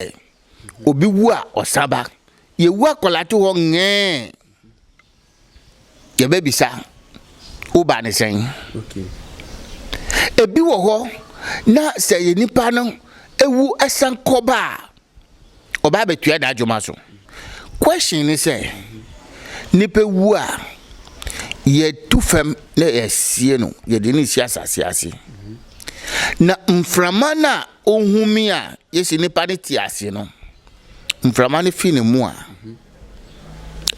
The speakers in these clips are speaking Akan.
sɛ obi wu a ɔsan ba yɛwu akwadaa to hɔ ngɛɛ yɛbɛbisa wo ba ne sɛn ebi wɔ hɔ na sɛ yɛ nipa no ewu ɛsan kɔ ba a ɔba abɛtua n'adwuma so question ne sɛ nipa wu a yɛtu fam na yɛasie no yɛde ne si asase ase na mframa no a Ohumi a yɛsi nnipa no te ase no, mframa no fi ne mu a,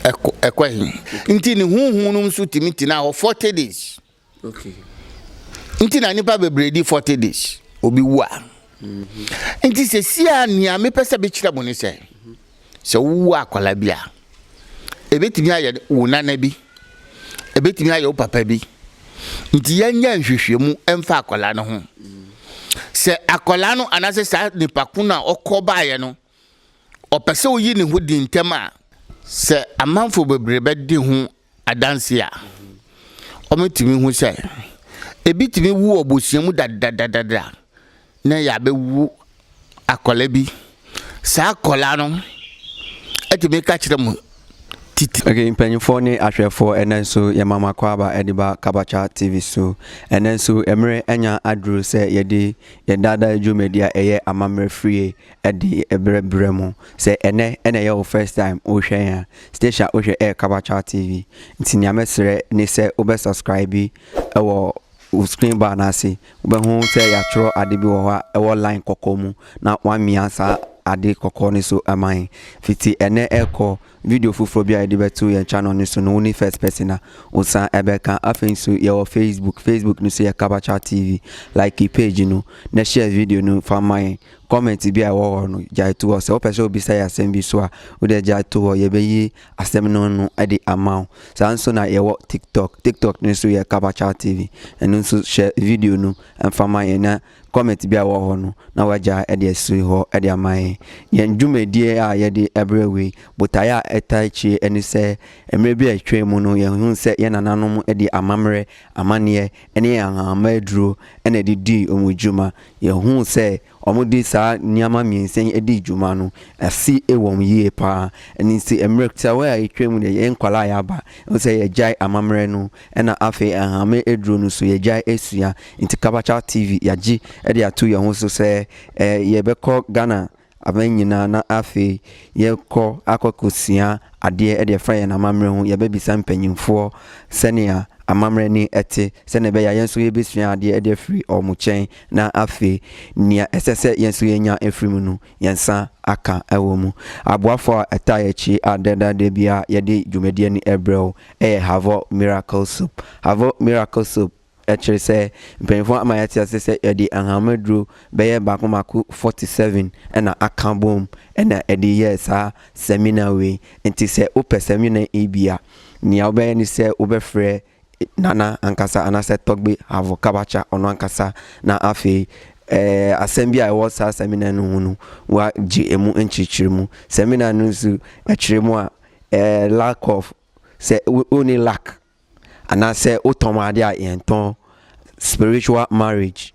ɛkɔ ɛkɔ he? Nti ne honhom no nso tumi tena hɔ forty days. Okay. Nti na nnipa bebree di forty days, obi wu a. Mm-hmm. Nti sɛ si a nea mepɛ sɛ mekyerɛ mo ne sɛ, sɛ wowo akwadaa bi a, ɛbɛtumi ayɛ wo nana bi, ɛbɛtumi ayɛ wo papa bi. Nti yɛnyɛ nhwehwɛmu mfa akwadaa no ho. Sɛ akwadaa no anaasɛ saa nipa ko no a ɔkɔ baeɛ no, ɔpɛ sɛ ɔyi ne ho di ntɛm a, sɛ amanfo bebree bɛdi ho adanse a, wɔatumi ahu sɛ ebi tumi wu wɔ abusua mu dadadadada na ɛyɛ abɛwu akwadaa bi. Saa akwadaa no atumi ka kyerɛ mu titi. Okay, mpanyinfoɔ ne ahwɛfoɔ ɛnɛ nso yɛ mama kwaaba ɛde ba Kabacha TV so. Ɛnɛ nso mmerɛ anya aduru sɛ yɛde yɛn daadaa dwumadi a ɛyɛ amammerɛ frie ɛde ɛbrɛ brɛ mo sɛ ɛnɛ ɛna ɛyɛ wo first time wohwɛ yɛn a station a wohwɛ ɛyɛ kabakyɛw tv nti nea mɛsrɛ ne sɛ wobɛ subscribe ɛwɔ wo screen bar no ase wobɛho sɛ yɛatwerɛ ade bi wɔ hɔ a ɛwɔ line kɔkɔɔ mu na woamia saa ade kɔkɔɔ no so ɛman fiti ɛnɛ ɛkɔ Video foforɔ bi a yɛde bɛto yɛn channel no so no wo ne first person a wo san ɛbɛka. Afei nso yɛwɔ Facebook, Facebook no so yɛ Kabacha TV. Like page no na share video no fa ma yɛn. Comment bi a ɛwɔ hɔ no gyae to hɔ. Sɛ wopɛ sɛ wobisa yɛn asɛm bi so a wo deɛ gyae to hɔ yɛbɛyi asɛm no ano de ama wo. Saa nso na yɛwɔ TikTok, TikTok no so yɛ Kabacha TV. Ɛno nso share video no fa ma yɛn na Kɔmit bi a ɛwɔ hɔ no na wɔagyaa de asi hɔ de ama yɛn. Yɛn dwumadie a yɛde brɛ wei, botaeɛ a ɛtaa akyire ne sɛ, mmerɛ bi a atwaa mu no yɛhunu sɛ yɛn nananom de amammerɛ, amanneɛ ne ahahamma aduro na ɛde dii wɔn dwuma. Yɛhuu sɛ wɔde saa nneɛma mmiɛnsa yi dii dwuma no, asi wɔn yie pa ara. Ɛno nti mmerɛ tiawa a atwaa mu deɛ yɛn nkwadaa a yɛaba, ɛwɔ sɛ yɛgyae amammerɛ no Ɛna afei Ahame aduro no so yɛgyae ɛsua nti Kabakya TV yagye de ato yɛn ho so sɛ yɛbɛkɔ Ghana aman nyinaa na afei yɛkɔ akɔ akɔ sua adeɛ de ɛfa yɛn amammerɛ ho yɛbɛ bisa mpanyinfoɔ sɛnea amammerɛ ne ɛte sɛnea ɛbɛyɛ a yɛn nso yɛbɛsua adeɛ de afiri wɔn kyɛn na afei nea ɛsɛ sɛ yɛn nso yɛnya afiri mu no yɛn nsa aka wɔ mu. Aboafo a ɛtaa yɛ akyi a dɛnda da biara yɛde dwumadie no brɛ wo yɛ Havor Miracle Soap. Havor Miracle Soap kyerɛ sɛ mpanyinfoɔ ama yɛate aseɛ sɛ yɛde ahahammono aduro bɛyɛ baako baako 47 na aka bom na ɛde yɛɛ saa samina wei. Nti sɛ wopɛ samina yi bi a, nea wobɛyɛ ne sɛ wobɛfrɛ Nana ankasa anaasɛ Togbe Havo Kabacha, ɔno ankasa na afei eh, asɛm bi a ɛwɔ saa seminar no ho no, wagye emu nkyerɛkyerɛ mu. Seminar no nso ɛkyerɛ mu a eh, lack of, sɛ wonni lack, anaasɛ wotɔn ade a yɛntɔn, spiritual marriage.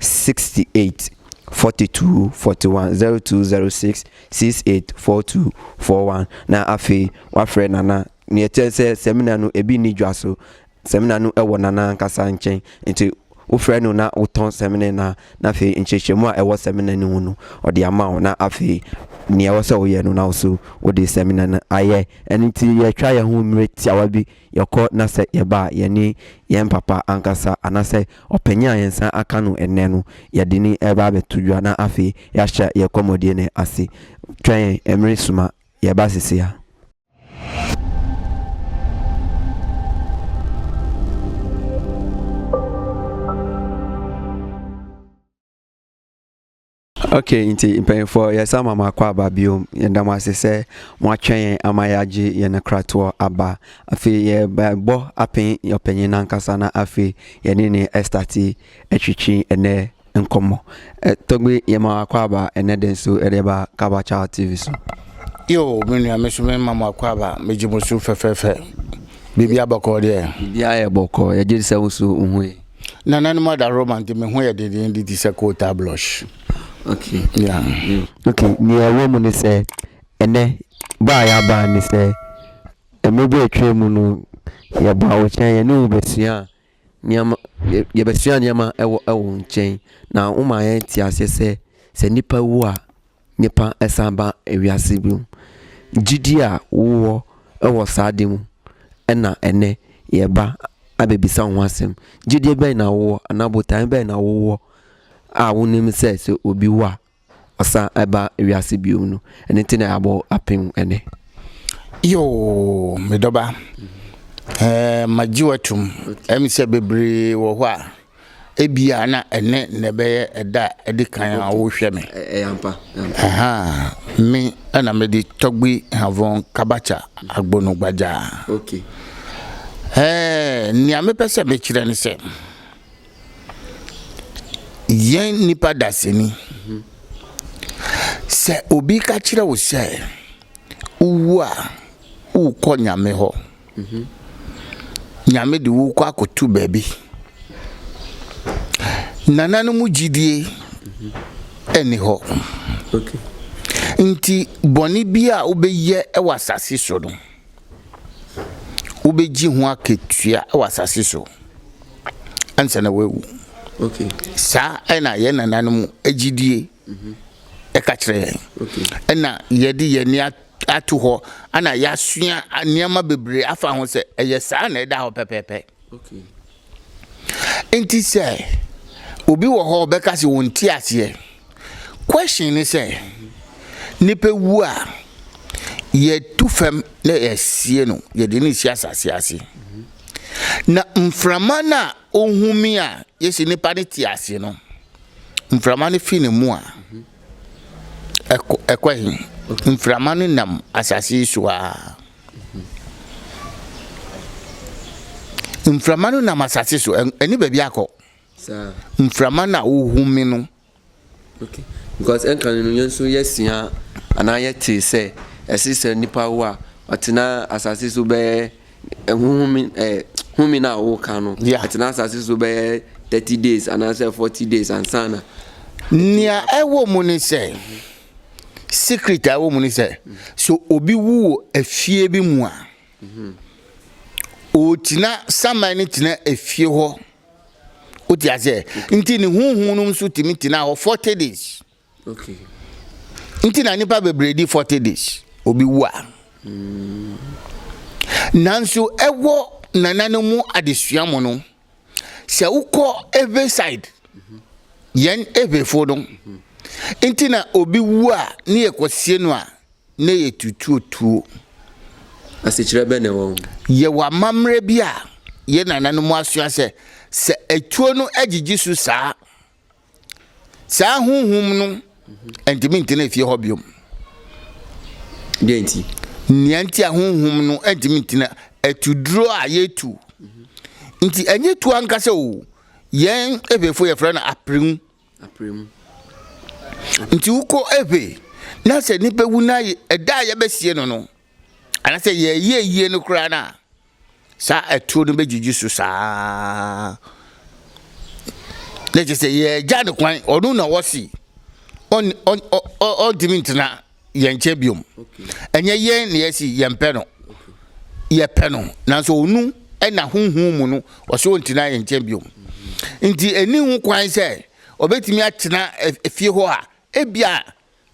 sixty eight forty two forty one zero two zero six six eight four two four one na afei wafrɛ nana nea ɛkyerɛ sɛ sɛmina no ebi nni dwa so sɛmina no wɔ nana ankasa nkyɛn nti wofrɛ no na wotɔn sɛmina na na afei nkyerɛkyerɛmu a ɛwɔ sɛmina no mu no ɔde ama wo na afei nea ɛwɔ sɛ woyɛ no na wo so wode sɛmina no ayɛ ɛno nti yɛtwa yɛn ho mmerɛ tiawa bi. Yɛkɔ na sɛ yɛba a, yɛne yɛn papa ankasa anaasɛ ɔpanyin a yɛn nsa aka no nnɛ no, yɛde no reba abɛto dwa na afei yɛahyɛ yɛn kɔmmɔdie no ase. Twɛn yɛn, mmere sum a, yɛreba seesei ara. Okay nti mpanyinfoɔ yɛsan ma mo akɔ aba biom yɛda mo ase sɛ mo atwɛn yɛn ama yɛagye yɛn akratoɔ aba afei yɛbɔ apen ɔpanyin nankasa na afei yɛne ne ɛstate atwitwi ɛnɛ nkɔmmɔ tɔgbi yɛma akɔ aba ɛnɛ de nso ɛde ba kabacha tv so yo me nua me so me ma mo akɔ aba megye mo so fɛfɛɛfɛ biribi abɔkɔɔ deɛ biribi ayɛ bɔkɔɔ yɛgye sɛ wo so wohu yi Nananom adaworoma nti, me ho yɛ dendenden te sɛ kootaa blush. Okay. Yeah. Mm. Okay, nea ɛwɔ mu ne sɛ ɛnɛ bɔ a yɛabaa ne sɛ mmerɛ bi a ɛtwaa mu no yɛbaa wo nkyɛn yɛne wo bɛsua nneɛma yɛbɛsua nneɛma ɛwɔ ɛwɔ nkyɛn na woma yɛn te aseɛ sɛ sɛ nipa wu a nnipa san ba wiase bio. Gyidie a wowɔ wɔ saa adeɛ mu na ɛnnɛ yɛreba abɛbisa wo ho asɛm. Gyidie bɛn na wowɔ anaa botaeɛ bɛn na wowɔ a wonim sɛ sɛ obi wu a ɔsan ba wiase bio no. Ɛno nti na yɛabɔ apem ɛnɛ. Yoo, me dɔba. Ɛɛ, magye watum. Ɛmi sɛ bebree wɔ hɔ a. Ebia na ɛnnɛ na ɛbɛyɛ ɛda a ɛdi kan a wohwɛ me. Ɛyɛ ampa. Ɛha, me na mede Tɔgbi Havon Kabakya Agbono Gbagya. Okay. Ɛɛ, nea mepɛ sɛ mekyerɛ ne sɛ, yɛn nnipa dasani, sɛ obi ka kyerɛ wo sɛ wowu a worekɔ Nyame hɔ. Nyame de wo rekɔ akɔto baabi. Nana no mu gyidie ɛnni hɔ. Nti bɔne bi a wobɛyɛ wɔ asase so no, wobɛgye ho akatua wɔ asase so ansa na woawu. Saa na yɛn nananom gyidie ɛka kyerɛ yɛn. Ɛna yɛde yɛn ani ato hɔ, ɛna yɛasua nneɛma bebree afa ho sɛ ɛyɛ saa na ɛda hɔ pɛpɛɛpɛ. Nti sɛ obi wɔ hɔ ɔbɛka sɛ wɔn ti aseɛ. Question ne sɛ, nipa wu a yɛtu fam na yɛasie no, yɛde no si asase ase. Na mframa no a Ohumi a yɛsi nnipa no ti ase no, mframa no fi ne mu a, ɛkɔ ɛkɔ he? Mframa no nam asase yi so ara. Mframa no nam asase so, ɛnni baabi akɔ. Mframa no a ohumi no. Okay, because ɛnka no yɛn nso yɛasua anaa yɛtee sɛ ɛse sɛ nipa wo a ɔtena asase so bɛyɛ ɛhohome eh, ɛ home no a woka no ɛtena asase so bɛyɛ thirty days anaasɛ forty days ansa na. nea ɛwɔ mu ne sɛ secret a ɛwɔ mu ne sɛ so obi wu wɔ efie bi mu a ɔgyina saman no gyina efie hɔ. Wote aseɛ? Nti ne huhu no nso tumi tena hɔ 40 days. Nti na nipa bebree di 40 days obi wu a. Hmm. Nanso ɛwɔ nananom mu adesua mu no sɛ wokɔ Ewe side yɛn Ewefo no nti na obi wu a ne yɛkɔsie no a Nnɛ yɛtutuo tuo. Asekyerɛ bɛn na ɛwɔ ho? Yɛwɔ amammerɛ bi a yɛn nananom asua sɛ, sɛ atuo no agyigye su saa a, saa honhom no ntumi ntena efie hɔ biom. Deɛ nti? Nea nti a honhom no ntumi ntena atuduro a yɛtu. Nti ɛnyɛ tuo ankasa o. Yɛn Evefoɔ yɛfrɛ no aprenwu. Aprɛ mu. Nti wokɔ ɛhwɛ na sɛ nipa wu na ɛda a yɛbɛsie no no anasɛ yɛyɛ ayie no koraa no a saa atuo no bɛgyigyi so saa na kyɛ sɛ yɛagya no kwan ɔno na ɔsi ɔntumi ntena yɛnkyɛ biom ɛnyɛ yɛn na yɛsi yɛmpɛ no yɛpɛ no nanso ɔnu ɛna honhom mu no ɔsɛ ɔntena yɛn nkyɛn biom nti ɛni ho kwan sɛ ɔbɛtumi atena fie hɔ a ebia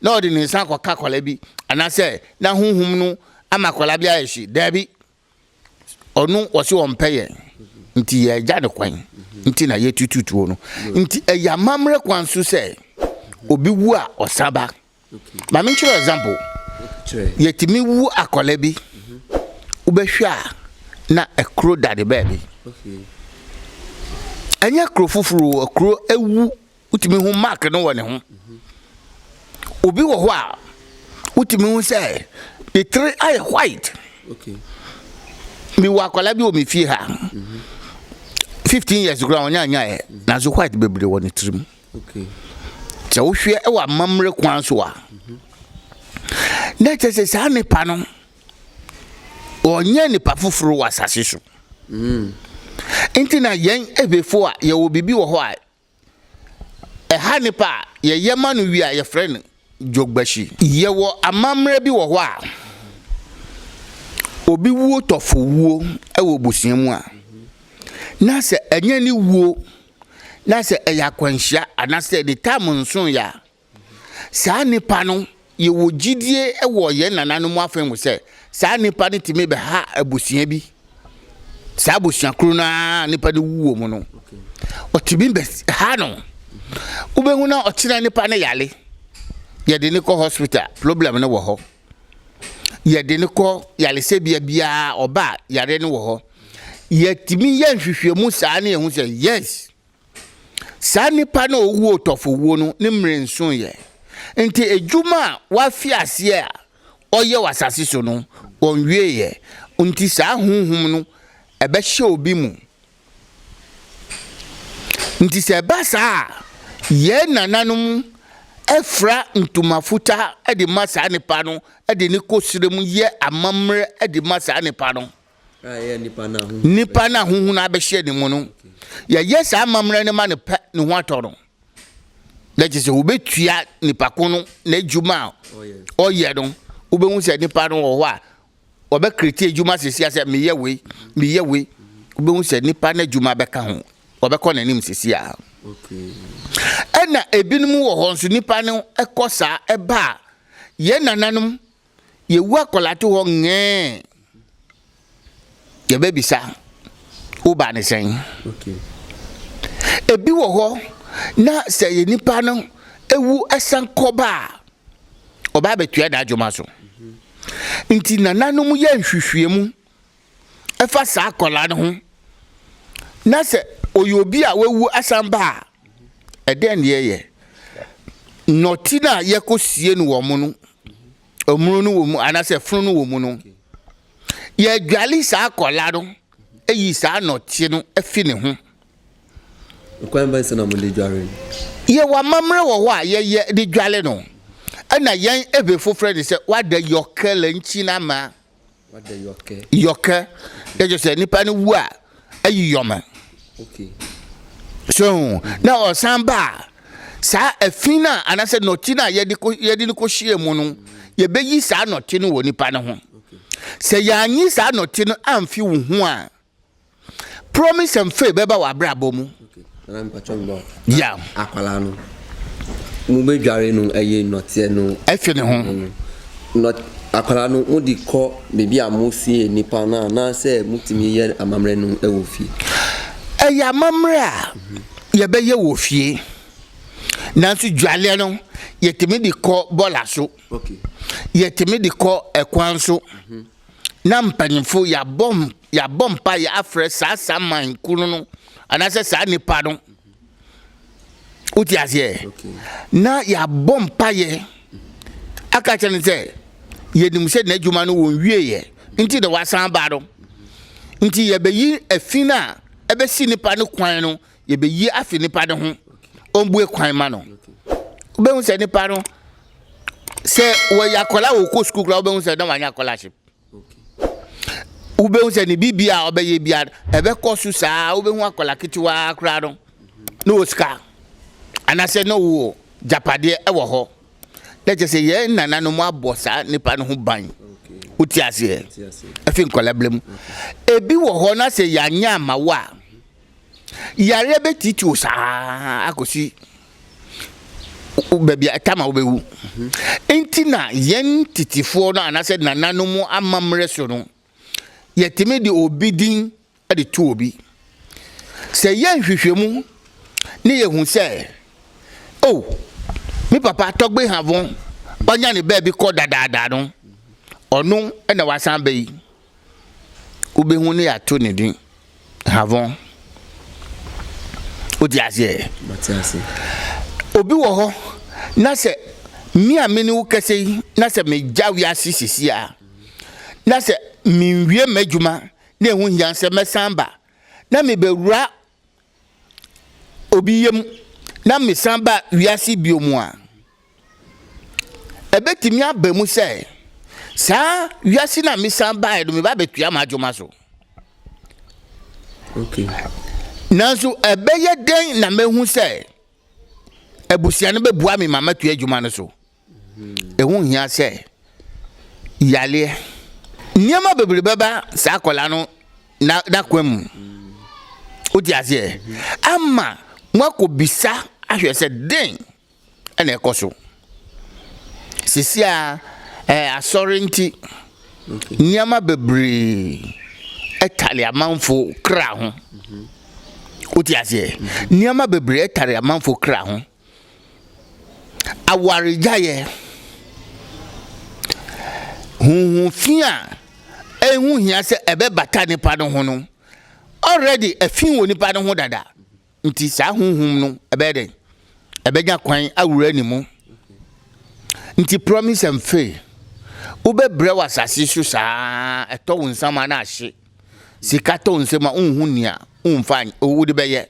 na ɔde ne nsa akɔka akwadaa bi anaasɛ na honhom no ama akwadaa bi ayɛ hye daabi Ɔno ɔse ɔmpɛ yɛn nti yɛagya no kwan nti na yɛtutu tuo no. Nti ɛyɛ amammerɛ kwan so sɛ obi wu a ɔsan ba. Ma menkyerɛ example. Yɛtumi wu akwadaa bi, wobɛhwɛ a na akuro da ne baabi. Ɛnyɛ kuro foforɔ o, akuro awu Wotumi hu mark no wɔ ne ho. Obi wɔ hɔ a wotumi hu sɛ ne tiri ayɛ white. Mewɔ akwadaa bi wɔ me fie ha. Fifteen years kura wɔn anyaeɛ nanso white bebree wɔ ne tirim. Sɛ wohwɛ wɔ amammerɛ kwan so a na kyerɛ sɛ saa nipa no ɔnyɛ nipa foforɔ wɔ asase so. Mm. Nti na yɛn ehwɛfo a yɛwɔ biribi wɔ hɔ a Ɛha nnipa a yɛyɛ ma no wie a, yɛfrɛ no Jogbashi. Yɛwɔ amammerɛ bi wɔ hɔ a, obi wuo tɔfo wuo wɔ abusua mu a, na sɛ ɛnyɛ ne wuo, na sɛ ɛyɛ akwanhyia anaasɛ ne tam nsoeɛ a, Saa nnipa no, yɛwɔ gyidie wɔ yɛn nananom afa mu sɛ, saa nnipa no tumi bɛha abusua bi, saa abusua koro no ara nnipa no wuo mu no, ɔtumi bɛha no. Wobɛhu na ɔkyena nnipa no yale. Yɛde ne kɔ hospital, problem no wɔ hɔ. Yɛde ne kɔ yaresɛbea biara, ɔba yare no wɔ hɔ. Yɛtumi yɛ nhwehwɛmu saa ne yɛhu sɛ, yes, Saa nipa no a ɔwu otɔfowuo no, ne mmerɛ nsuiɛ. Nti adwuma a wafi aseɛ a ɔyɛ wɔ asase so no, ɔnwieɛ. Nti saa honhom no ɛbɛhyɛ obi mu. Nti sɛ ɛba saa a, yɛn nananom fira ntoma futaa de ma saa nipa no de no kɔ serɛ mu yɛ amammerɛ de ma saa nipa no. Nnipa no a honhu no abɛhyɛ ne mu no, yɛyɛ saa amammerɛ no ma no pɛ ne ho atɔ no. Na kyerɛ sɛ wobɛtua nipa ko no n'adwuma a ɔyɛ no. Wobɛhu sɛ nipa no wɔ hɔ a ɔbɛkreti adwuma sesia sɛ meyɛ wei, meyɛ wei. Wobɛhu sɛ nipa no adwuma bɛka ho, ɔbɛkɔ n'anim sesia. Ɛna ebinom wɔ hɔ nso nipa no ɛkɔ saa ɛba a yɛn nananom Yɛwu akwadaa to hɔ ngɛɛ yɛbɛbisa wo baa ne sɛn. Ebi wɔ hɔ na sɛ yɛ nipa no ewu ɛsan kɔba a ɔbaa bɛtua n'adwuma so. Nti nananom yɛ nhwehwɛmu fa saa akwadaa no ho na sɛ ɔyɛ obi a wawu asan ba a ɛdɛn ne yɛyɛ nɔte no a yɛkɔsie no wɔ mo no ɔmono no wɔ mu anaasɛ fono no wɔ mu no yɛadwale saa akwadaa no ayi saa nɔte no afi ne ho kwan bɛn sɛ na mode dware no yɛwɔ amammerɛ wɔ hɔ a yɛyɛ de dwale no ɛna yɛn ebe foforɔ ne sɛ wada yɔkɛlɛ nkyi no ama yɔkɛ ɛkyɛ sɛ nipa no wu a ayi yɔmɛ so na ɔsan ba a saa afi no a anaasɛ nɔte no a yɛde yɛde no kɔhyia mu no yɛbɛyi saa nɔte no wɔ nipa no ho sɛ yɛanyi saa nɔte no amfi wo ho a Promise and faith bɛba w'abrabɔ mu. Nana mpatwa mbɔ. Ya. Akwala no. Mo bɛ dware no ɛyɛ nɔteɛ no. Ɛfi ne ho. Nɔ akwala no mo di kɔ beebi a mo sie nipa no anaasɛ mo tumi yɛ amammerɛ no ɛwɔ fie. Ɛyɛ amammerɛ a yɛbɛyɛ wɔ fie nanso dwaleɛ no yɛtumi de kɔ bɔla so. Okay. Yɛtumi de kɔ ɛkwan so. Mm -hmm. na mpanyimfo yɛabɔ yɛabɔ mpaeɛ afrɛ saa saman kunu no anaasɛ saa nipa no wote aseɛ na yɛabɔ mpaeɛ aka kyerɛ no sɛ yɛnim sɛ n'adwuma no wɔn wieɛ nti na wasan ba no nti yɛbɛyi afin a ɛbɛsi nipa no kwan no yɛbɛyi afi nipa no ho ɔmbue kwan ma no wobɛhu sɛ nipa no sɛ wɔyɛ akɔla wɔ kɔ sukuu koraa wobɛhu sɛ na wanyɛ akɔla se wobɛhu sɛ ne biribi a ɔbɛyɛ bia ɛbɛkɔ so saa wobɛhu akɔla ketewaa koraa no na wɔ sika anaasɛ na wɔ gyapadeɛ ɛwɔ hɔ na kyɛ sɛ yɛn nananom abɔ saa nipa no ho ban wote aseɛ ɛfi nkɔla berɛ mu ebi wɔ hɔ na sɛ yɛanyɛ ama wo a Yareɛ bɛtiti wo saa akɔsi baabi a ɛtama wobɛwu. Nti na yɛn titifoɔ no anaasɛ nananom amammerɛ so no, yɛtumi de obi din de to obi. Sɛ yɛ nhwehwɛmu ne yɛhu sɛ, o, oh, me papa tɔgbe havon ɔnya ne baabi kɔ dadaadaa no, ɔno na wasan bɛyi. wobɛhu ne yɛato ne din havɔn wodi aseɛ obi wɔ hɔ na sɛ me a me ne wo kɛsɛ yi na sɛ megya wiase sisi a na sɛ menwie m'adwuma na ɛho hia sɛ mɛsan ba na mebɛwura obi yam na mesan ba wiase bio mu a, ɛbɛtumi aba mu sɛ saa wiase no a mesan baeɛ no meba bɛtua m'adwuma so okay. nanso ɛbɛyɛ dɛn na mahu sɛ abusua no bɛboa me ma matua adwuma no so ɛho hia sɛ yareɛ, nneɛma bebree bɛba saa akwadaa no n'akwan mu. Wote aseɛ? Ama moakɔbisa ahwɛ sɛ den na ɛkɔ so. Sisi a ɛɛ asɔre nti, nneɛma bebree ɛtare amanfo kra ho. Wote aseɛ? Nneɛma bebree ɛtare amanfo kra ho. awaregyaeɛ, huhu fi a ɛho hia sɛ ɛbɛbata nipa no ho no already ɛfi wɔ nipa no ho dada nti saa huhum no ɛbɛyɛ dɛn ɛbɛnya kwan awura ne mu nti promise and fail wobɛbrɛ wɔ asase so saa ɛtɔ wo nsama no ahye sika tɔ nsɛm a wonhu nea womfa wode bɛyɛ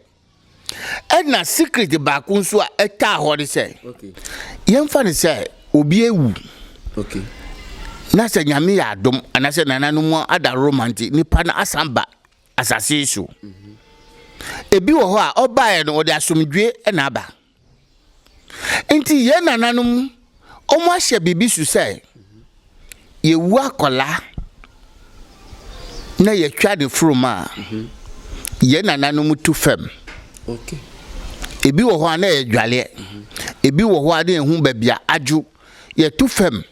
ɛna secret baako nso a ɛtaa hɔ ne sɛ yɛmfa ne sɛ obi awu na sɛ nyame yɛ adom anaasɛ nananom ada roma nti nipa no asan ba asase so mhm. ebi wɔ hɔ a ɔbaeɛ no ɔde asomdwe na aba Nti yɛn nananom, wɔn ahyɛ biribi so sɛ, yɛwu akɔla na yɛtwa ne furum a, yɛn nananom tu fam. Ebi wɔ hɔ a na yɛdwaleɛ, ebi wɔ hɔ a na yɛhu baabi a adwo, yɛtu fam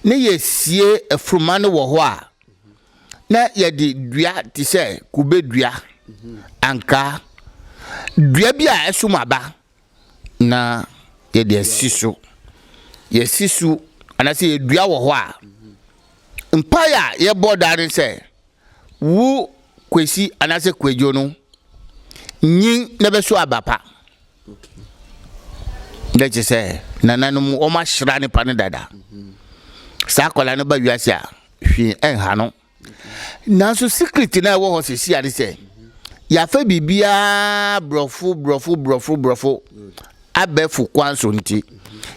na yɛsie afuruma no wɔ hɔ a, na yɛde dua te sɛ kube dua, ankaa, dua bi a ɛsom aba, na yɛde asi so. Yɛasi so anaasɛ yɛdua wɔ hɔ a, mpae a yɛbɔ daa ne sɛ, wo Kwesi anaasɛ Kwadwo no, nyin na bɛso aba pa. Dɛ kyerɛ sɛ, nananom wɔahyira nipa no dada. Saa akwadaa no ba wiase a, hwee ɛnha no nanso secret na ɛwɔ hɔ sɛsi ade sɛ yɛafa biribiara borɔfo borɔfo borɔfo borɔfo abɛfo kwan so nti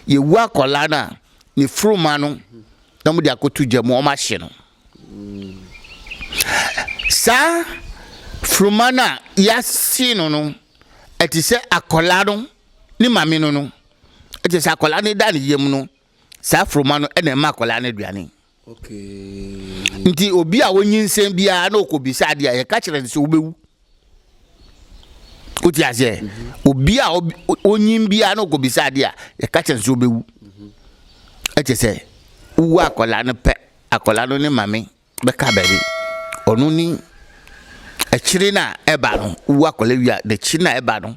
yɛwu akwadaa no a ne furuma no na wɔde akɔto gya mu wɔn ahye no saa furuma no a yɛahye no no ɛte sɛ akwadaa no ne maame no no ɛte sɛ akwadaa no da ne yam no saa foroma no na ɛma akwadaa no aduane. Nti obi a onyinsɛn biara na ɔkɔbisa adeɛ a yɛka kyerɛ no sɛ wobɛwu. Wote aseɛ? Mhm. Obi a onyin biara na ɔkɔbisa adeɛ a yɛka kyerɛ no sɛ wobɛwu. Mhm. Ɛkyɛ sɛ wowɔ akwadaa no pɛ, akwadaa no ne mame bɛka baabi ɔno ni akyire no a ɛba no wowu akwadaa wie a n'akyire no a ɛba no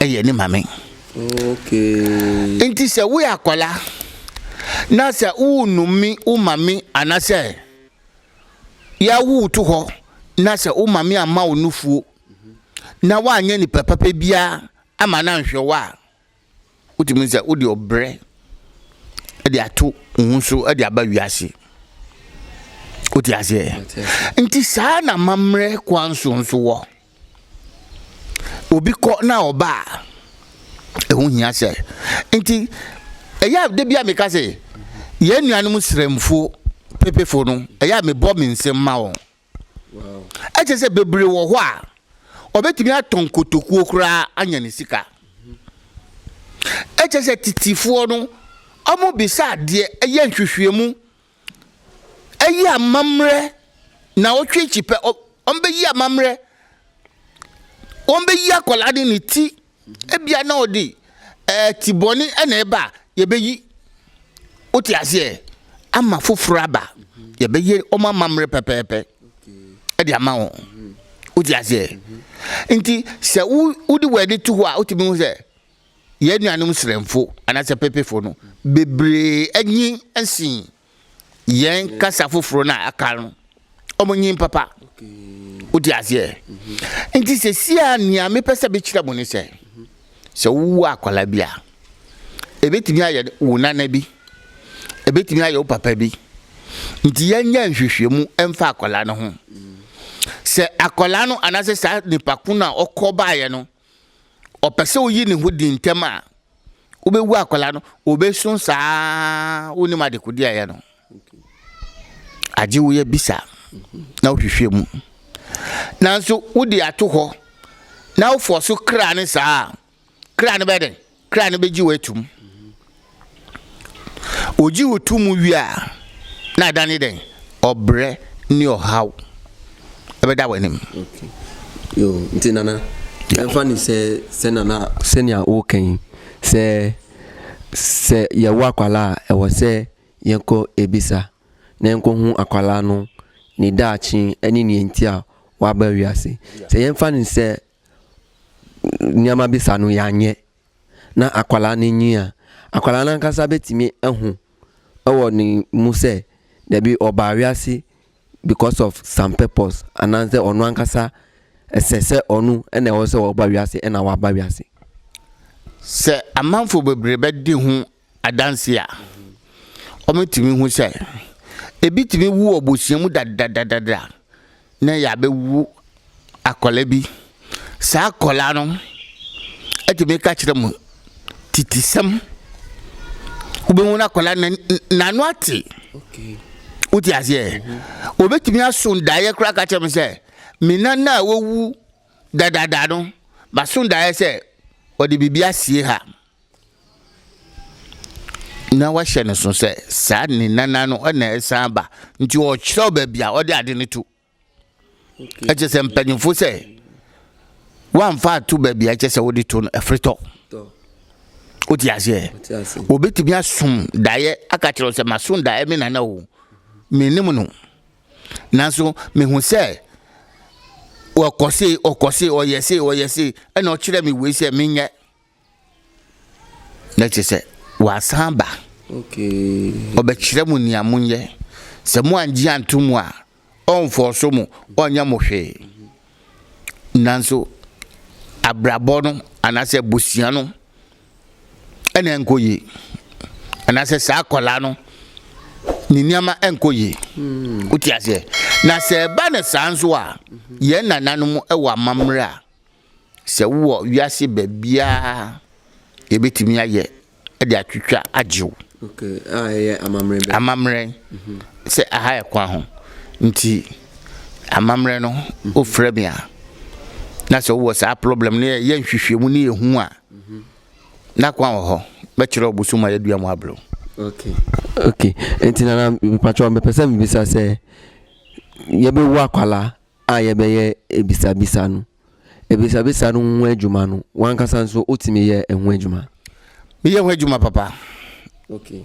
ɛyɛ ne maame okay nti sɛ woyɛ akwadaa na sɛ wonumi wo maame anasɛ yɛawo to hɔ na sɛ wo maame amma wo nufuo na woanyɛ nipa papa biara ama no anhwɛ wo a Wotumi sɛ wode ɔbrɛ de ato wo ho so de aba wiase. Wote aseɛ? Nti saa na mammerɛ kwan so nso wɔ. Obi kɔ na ɔba a, ɛho hia sɛ. Nti ɛyɛ a da bi a meka sɛ yɛn nuanom srɛmfo pepefo no, ɛyɛ a mebɔ me nsɛm ma wɔn. Ɛkyerɛ sɛ bebree wɔ hɔ a, ɔbɛtumi atɔn kotokuo koraa anya ne sika. Ɛkyerɛ sɛ titifoɔ no, wɔbisa adeɛ, ɛyɛ nhwehwɛmu, ɛyɛ amammerɛ na wɔtwe kyipɛ, wɔbɛyi amammerɛ, wɔbɛyi akwadaa de ne ti Ebia na ɔde ɛɛ ti bɔne na ɛba a yɛbɛyi wote aseɛ ama foforɔ aba yɛbɛyɛ wɔn amammerɛ pɛpɛɛpɛ ɛde ama wɔn wote aseɛ nti sɛ wo wode wɔn ani to hɔ a wotumi hu sɛ yɛn nuanom srɛmfo anaasɛ pepefo no bebree anyi nsin. yɛn kasa foforɔ no a aka no ɔmo nyin papa wode aseɛ nti sɛsi a nea mepɛ sɛ mekyerɛ mo ne sɛ sɛ wowɔ akwala bi a ɛbɛtumi ayɛ wo nana bi ɛbɛtumi ayɛ wo papa bi nti yɛnyɛ nhwehwɛmu ɛmfa akwala no ho sɛ akwala no anaasɛ saa nipa ko no a ɔkɔ baeɛ no ɔpɛ sɛ oyi ne ho di ntɛm a, wobɛwu akwadaa no, obesu saa wonim adekode a ɛyɛ no. Agye wo yɛ bisa na wohwehwɛ mu. Nanso wode ato hɔ na wofɔ so kra ne saa a, kra no bɛyɛ dɛn? Kra no begye wo atum. Ogye wo to mu wie a, na adane dɛn? Ɔbrɛ ne ɔhaw ɛbɛda w'anim. Okay. Yo, nti nana, ɛmfa ne sɛ sɛ nana sɛnea woka yi sɛ sɛ yɛwo akwalaa a ɛwɔ sɛ yɛkɔ ebisa na yɛnkɔhu akwalaa no ne daakye ne nea nti a waba wiase. Sɛ yɛmfa no sɛ nneɛma bi sa no yɛanyɛ na akwadaa no nyin a, akwadaa no ankasa bɛtumi ahu wɔ ne mu sɛ dabi ɔbaa wiase because of some purpose anaasɛ ɔno ankasa ɛsɛ sɛ ɔno na ɛwɔ sɛ ɔba wiase na waba wiase. Sɛ amanfoɔ bebree bɛdi ho adanse a, wɔatumi ahu sɛ ebi tumi wu wɔ abusua mu dadadadada na ɛyɛ abɛwu akwadaa bi. Saa akwadaa no atumi ka kyerɛ mo titisɛm. Wobɛhu no akwadaa no n'ano ate. Wote aseɛ? Wɔbɛtumi mhm. aso daeɛ koraa ka kyerɛ mo sɛ me nana a wawu dadada no maso daeɛ sɛ ɔde biribi asie ha. Na wɔahyɛ no so sɛ saa ne nana no na ɛsan aba nti ɔkyerɛw baabi a ɔde ade no to ɛkyɛ sɛ mpanyimfo sɛ woamfa ato baabi a ɛkyɛ sɛ wode to no ɛfiri tɔ wote aseɛ obɛtumi asom daeɛ aka kyerɛw sɛ masom daeɛ me nana o menim no nanso mehu sɛ ɔkɔse ɔkɔse ɔyɛ se ɔyɛ se ɛna ɔkyerɛ me wei sɛ menyɛ Na kyerɛ sɛ, wasan aba. Ɔbɛkyerɛ mo nea monyɛ. Sɛ moangye anto mu a, ɔnfɔɔso mo, ɔnyɛ mo hwee. Nanso abrabɔ no anaasɛ abusua no na ɛnkɔ yie. Anaasɛ saa akwadaa no, ne nneɛma nkɔ yie. Wote aseɛ? Na sɛ ɛba no saa nso a, yɛn nananom wɔ amammerɛ a. Sɛ wowɔ wiase baabiara a yɛbɛtumi ayɛ de atwitwa agye wo. Okay, a ɛyɛ amammerɛ bɛ. Amammerɛ mhm. sɛ aha yɛ kwan ho nti amammerɛ no mhm. wofrɛ me a na sɛ wowɔ saa problem no yɛ nhwehwɛmu ne yɛhu a mhm. na kwan wɔ hɔ bɛkyerɛ wo bosom a yɛadua mu aberɛ okay okay nti nana mepatwɛ mepɛ sɛ mebisa sɛ yɛbɛwu akwalaa a yɛbɛyɛ abisabisa no, abisabisa no ho adwuma no, w'ankasa nso wotumi yɛ ɛho adwuma? Meyɛ ho adwuma papa. Okay.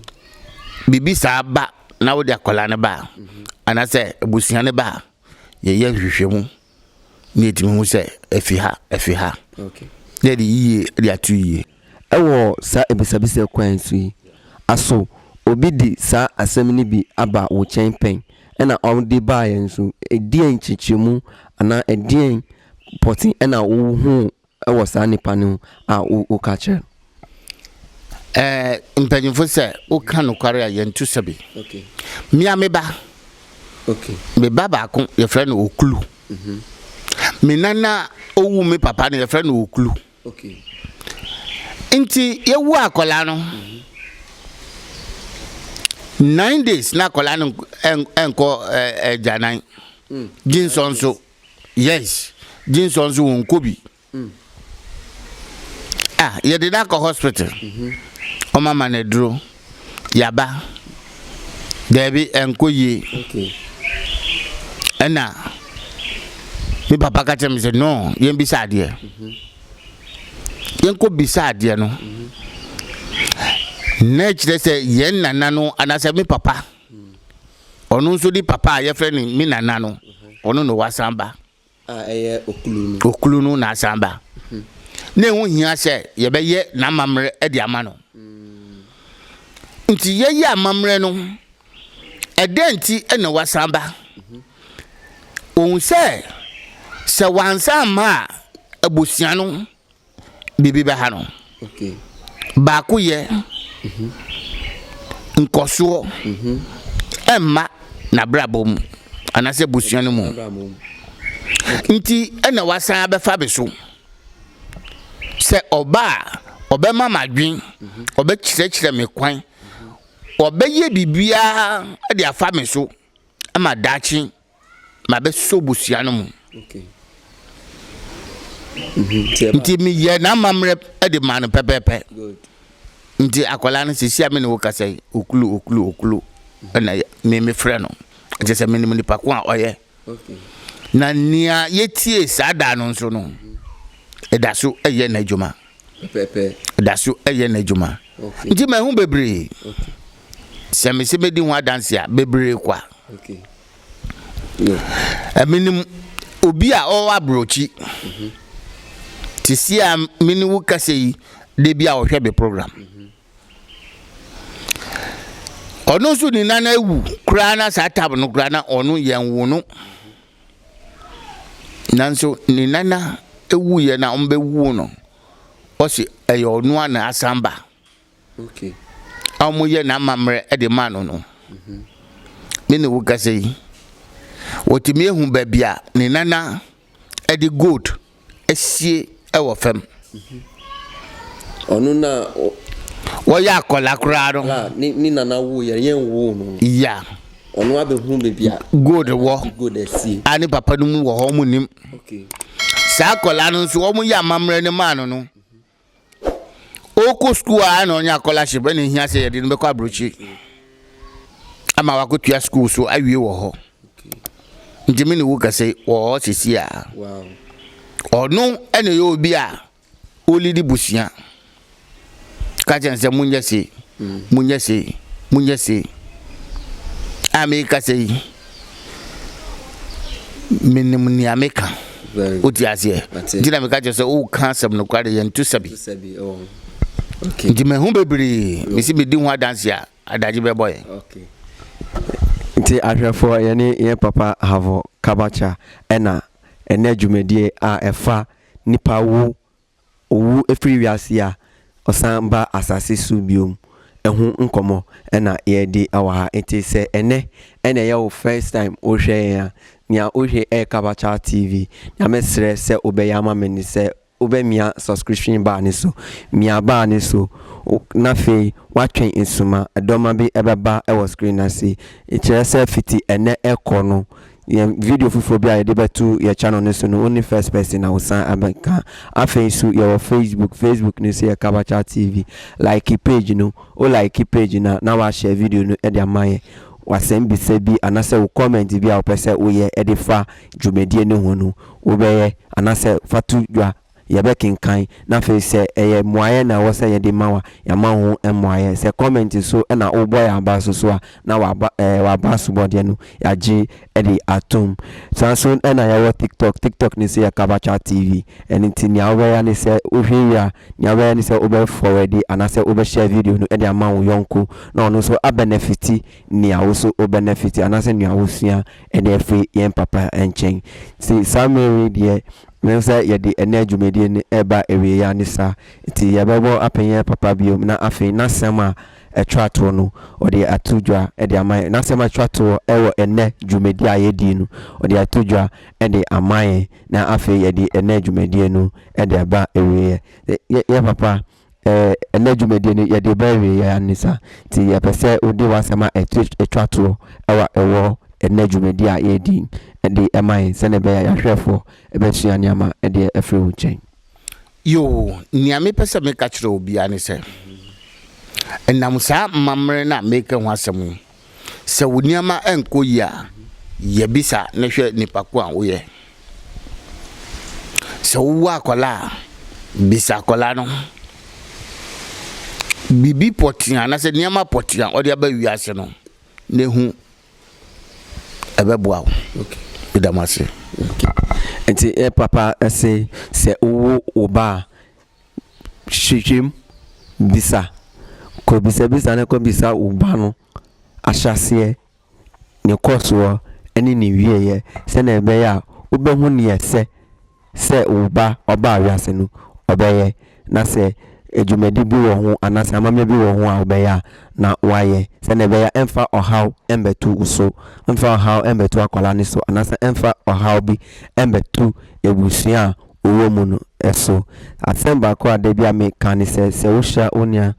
Biribi saa ba na wode akwadaa no ba a, mhm. anaasɛ abusua no ba a, yɛyɛ nhwehwɛmu na yɛtumi hu sɛ ɛfi ha, ɛfi ha. Okay. Na yɛde yiye de ato yiye. Wɔ saa abisabisa kwan yi so yi, aso obi de saa asɛm no bi aba wo kyɛn pɛn? Ɛna ɔde baeɛ nso, ɛdeɛn nkyerɛkyerɛmu anaa ɛdeɛn pɔte ɛna wo huu wɔ saa nipa no ho a wo wo ka kyerɛ no? Ɛɛ mpanyinfo sɛ wo ka nokware a yɛn to sɛbi. Okay. Mia me ba. Okay. Me ba baako yɛfrɛ no Okulu. Mm -hmm. Me nana owu me papa no yɛfrɛ no Okulu. Nti yɛwu akwadaa no nine days na akwadaa no nkɔ agyanan gyensɔ nso yes gyensɔ nso wɔn nkɔ bi ah yɛde no akɔ hospital wɔn ama no aduro yaba daabi ɛnkɔ yie ɛna me papa ka kyerɛ me sɛ no yɛn bisa adeɛ yɛn kɔ bisa adeɛ no na ɛkyerɛ sɛ yɛn nana no anaasɛ me papa ɔno nso de papa a yɛfrɛ no me nana no ɔno na wasan ba. a ɛyɛ okunu no. Okunu no na asan ba. Na ɛho hia sɛ yɛbɛyɛ n'amammerɛ de ama no. Nti yɛyɛ amammerɛ no, ɛdɛn nti na wasan ba? Wɔhu sɛ, sɛ wansan amma a, abusua no. biribi bɛha no. Baakoyɛ nkɔsoɔ ɛmma n'abrabɔ mu anaasɛ abusua no mu nti ɛna wasan abɛfa bi so sɛ ɔba a ɔbɛma m'adwen ɔbɛkyerɛkyerɛ me kwan ɔbɛyɛ biribiara de afa me so ma daakye mabɛsɔ abusua no mu. Mhm, nti meyɛ n'amammerɛ de maa no pɛpɛɛpɛ nti akwadaa no sisi a me ne wo kasa yi okulu okulu okulu ɛna me me frɛ no ɛkyɛ sɛ me ne me nipa ko a ɔyɛ na nea yɛtie saa daa no nso no ɛda so ɛyɛ n'adwuma. pɛpɛɛpɛ. Ɔda so yɛ n'adwuma. Okay. Nti mahu bebree. Okay. Sɛ mese medi ho adanse a, bebree kwa. Okay. Yeah. Menim obi a ɔwɔ aburokyi. Mm -hmm. Te si a me ne wo kasa yi, da bi a ɔhwɛ me program. Mm -hmm. ɔno nso ne nan awu koraa na saa tab no koraa na ɔno yɛn wo no Nanso ne nana wuiɛ na wɔbɛwuo no, ɔse ɛyɛ ɔno a na asan ba. Okay. A wɔyɛ n'amammerɛ de maa no no. Mhm. Me ne wo kasa yi, wɔtumi ehu baabi a ne nana de gold asie wɔ fam. Ɔno na. Wɔyɛ akwadaa koraa no. A ne ne nana woo yɛn yɛn woo no. Ya. Ɔno abɛhunu baabi a. Gold wɔ. Gold asie. A ne papa no mu wɔ hɔ wɔn nim. Okay. Saa akwadaa no nso wɔn yɛ amammerɛ no maa no no. Ɔkɔ sukuu a na ɔnya scholarship ɛna ehia sɛ yɛde no bɛkɔ aburokyi ama wakɔtua sukuu so awie wɔ hɔ nti me ne wo kɛse wɔ hɔ sisi a ɔno ɛna ɛyɛ obi a ɔlidi busua ka kyɛn sɛ monyɛ se monyɛ se monyɛ se a mekasa yi Menim nea meka. Wote aseɛ? Nti na meka kyerɛ sɛ woka asɛm nokware, yɛnto sɛbi. Nti mahu bebree, mesi medi ho adanse a, adagye bɛbɔ yɛn. Nti ahwɛfoɔ, yɛne yɛn papa Havo Kabakya na ɛnɛ dwumadie a ɛfa nipa wu Owu firi wiase a ɔsan ba asase so bio ho nkɔmmɔ na yɛredi wɔ ha. Nti sɛ ɛnnɛ na ɛyɛ wo first time wohwɛ yɛn a, nea wohwɛ yɛ Kabacha TV. Nea mɛsrɛ sɛ wobɛyɛ ama me ne sɛ wobɛmia subscription bar no so. Mia bar no so na afei woatwɛn nsuma. Ɛdɔma bi bɛba wɔ screen no ase. Kyerɛ sɛ fiti ɛnnɛ kɔ no, Yɛn video foforɔ bi a yɛde bɛto yɛ channel no so no wo ne first person na wosan abɛka. Afei nso yɛwɔ Facebook, Facebook no nso yɛ Kabacha TV. Like page no, wo like page no a na woahyɛ video no de ama yɛn. W'asɛm bisa bi anaasɛ wo comment bi a wopɛ sɛ woyɛ de fa dwumadie no ho no wobɛyɛ anaasɛ fa to dwa. yɛbɛkenkan na afei sɛ ɛyɛ mmuaeɛ na ɛwɔ sɛ yɛde ma wo a, yɛama wo ho mmuaeɛ. Sɛ comment so na wobɔ yɛn aba so so a, na w'aba ɛɛ w'aba asobɔdeɛ no yɛagye de atom. Saa nso na yɛwɔ TikTok, TikTok no nso yɛ Kabachat TV. Ɛno nti nea wobɛyɛ ara ne sɛ wohwɛ wie a, nea wobɛyɛ ne sɛ wobɛ forward anaasɛ wobɛ share video no de ama wo yɔnko na ɔno nso a benefit nea wo nso wo benefit anaasɛ nea wosua de afiri yɛn papa nkyɛn. Nti saa mmerɛ wei deɛ Mehu sɛ yɛde ɛnnɛ dwumadie no reba awieeɛ ara ne saa, nti yɛbɛbɔ apɛn yɛn papa bio na afei n'asɛm a ɛtwa toɔ no ɔde ato dwa de ama yɛn. N'asɛm a ɛtwa toɔ wɔ ɛnnɛ dwumadie a yɛdie no ɔde ato dwa de ama yɛn na afei yɛde ɛnnɛ dwumadie no de aba awieeɛ. Yɛn papa Eh, ɛnnɛ dwumadie no yɛde reba awieeɛ ara ni sa, nti yɛpɛ sɛ wode w'asɛm a ɛto twa toɔ wɔ ɛwɔ ɛnnɛ dwumadie a yɛredi de ma yɛn sɛdeɛ ɛbɛyɛ a yɛahwɛfoɔ bɛsua nneɛma de afiri wo nkyɛn. Yoo, nea mepɛ sɛ meka kyerɛ obiara ne sɛ, ɛnam saa mmammerɛ no a mereka ho asɛm yi Sɛ wo nneɛma nkɔ yie a, yɛ bisa na hwɛ nipa ko a woyɛ. Sɛ wowo akwadaa a, bisa akwadaa no biribi pɔtee anaasɛ nneɛma pɔtee a ɔde aba wiase no na ehu ɛbɛboa wo. Meda mo ase. Nti eh, papa se sɛ wowo wo ba a Hwehwɛm, bisa, kɔ bisabisa na kɔ bisa wo ba no ahyɛaseɛ, ne kɔsoɔ ne ne wieɛ sɛdeɛ ɛbɛyɛ a wobɛhu neɛ ɛsɛ sɛ wo ba ɔba wiase no ɔbɛyɛ na sɛ dwumadi bi wɔ ho anaa sɛ amammerɛ bi wɔ ho a wobɛyɛ a na wayɛ sɛdeɛ ɛbɛyɛ a ɛmfa ɔhaw mmɛto wo so, ɛmfa ɔhaw mmɛto akwadaa no so anaa sɛ ɛmfa ɔhaw bi mmɛto abusua a wowɔ mu no so. Asɛm baako a da bi a meka ne sɛ, sɛ wohyira wo nua.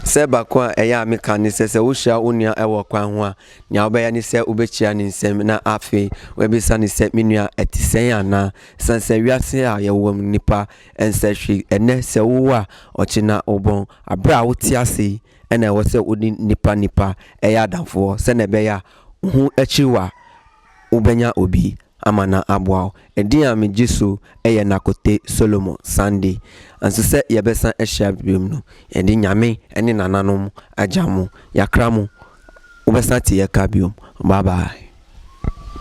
Sɛ baako a ɛyɛ a meka ne sɛ, sɛ wohyira wo nua wɔ kwan ho a, nea wobɛyɛ ne sɛ wobɛkyia ne nsam na afei woabisa no sɛ, Me nua, ɛte sɛn anaa? Esiane sɛ wiase a yɛwɔ mu no, nnipa nsɛ hwee. Ɛnnɛ, sɛ wowo a, ɔkyena wobɔn. Bere a wote ase yi na ɛwɔ sɛ wone nnipa nnipa yɛ adamfoɔ sɛnea ɛbɛyɛ a wo ho akyiri wo a, wobɛnya obi ama no aboa wo. Ɛdin a megye so yɛ Nakote Solomon Sande. Nanso sɛ yɛbɛsan ahyia bio no, yɛde Nyame ne nananom agya mo. Yɛakra mo. Wobɛsan ate yɛn ka bio. Bye bye.